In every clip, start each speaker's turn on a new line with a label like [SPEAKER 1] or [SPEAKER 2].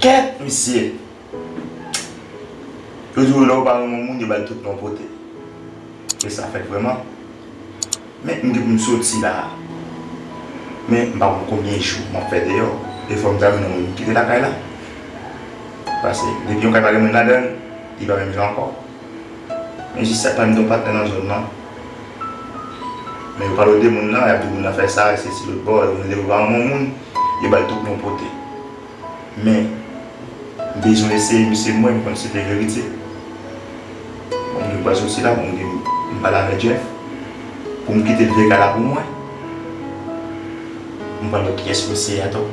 [SPEAKER 1] Kèt misye! Yo di yo lè yo pa renmen yon moun yo ba l tout non pote. E sa fèt vrèman. Men m gen pou m soti la a. Men m pa konn konbyen jou m ap fè deyò. E fò m ta jwenn yon moun pou m kite lakay la. Pase depi yon kay pa gen moun ladan l, li pa menm jan ankò. Mwen jis sa kman m gen yon patnè nan zòn nan men yo pa lode moun nan yap di moun nan fè sa e sesi lotbò yo mele yo pa moun moun yo bal tout non pote men m bezwen eseye misye mwen m konn si se verite bon m gen pwal soti la bon m di m pale avè Jeff pou m kite l veye kay la pou mwen. M pa wè kiyès mesye a tou.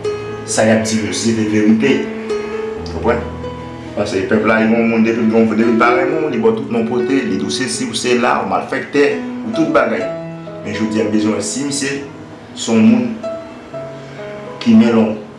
[SPEAKER 1] Sa yap di yo se de verite. Konprann? Pase pèp la gen yon moun depi l gen yon depi l pa renmen w li ba w tout non pote li di w sesi w sela ou malfèktè ou tout bagay. Men jodi a m bezwen wè si misye se yon moun ki men lon.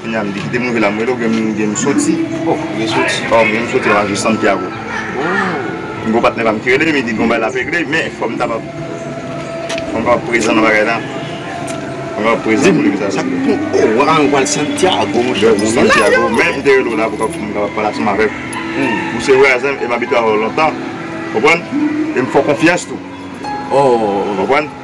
[SPEAKER 1] Kounya m di kite m rive la m rele w gen m gen m soti oh m gen soti
[SPEAKER 2] oh m gen m soti nan lari
[SPEAKER 1] Santiago m gen yon patnè pa m ki rele m li di gen yon bagay l ap regle men fò m kapab fò m kapab prezan nan bagay la fò m kapab prezan pou li sa sa pou oh w a ou al
[SPEAKER 2] Santiago monchè ou konnen la yo men m te
[SPEAKER 1] rele w la pou kapab pou m kapab pale ansanm avèk ou ou se vwazen m e m abitye avè w lontan konprann e m fè w konfyans tou oh
[SPEAKER 2] konprann.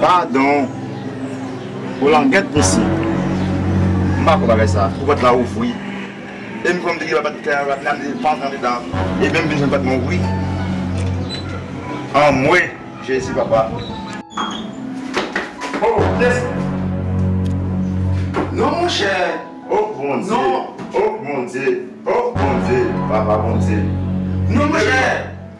[SPEAKER 1] Padon Pou langèt mesye M pa kwè bagay sa Pou pòt la ouvri E m kwè m te gen bat kè bat la m te pa antre andedan E menm m vin jwenn pòt mwen ouvri Anmwee Jezi papa Oh kiyès
[SPEAKER 2] Non monchè Oh Bondye
[SPEAKER 1] Oh
[SPEAKER 2] Bondye
[SPEAKER 1] Oh Bondye Papa Bondye Non monchè.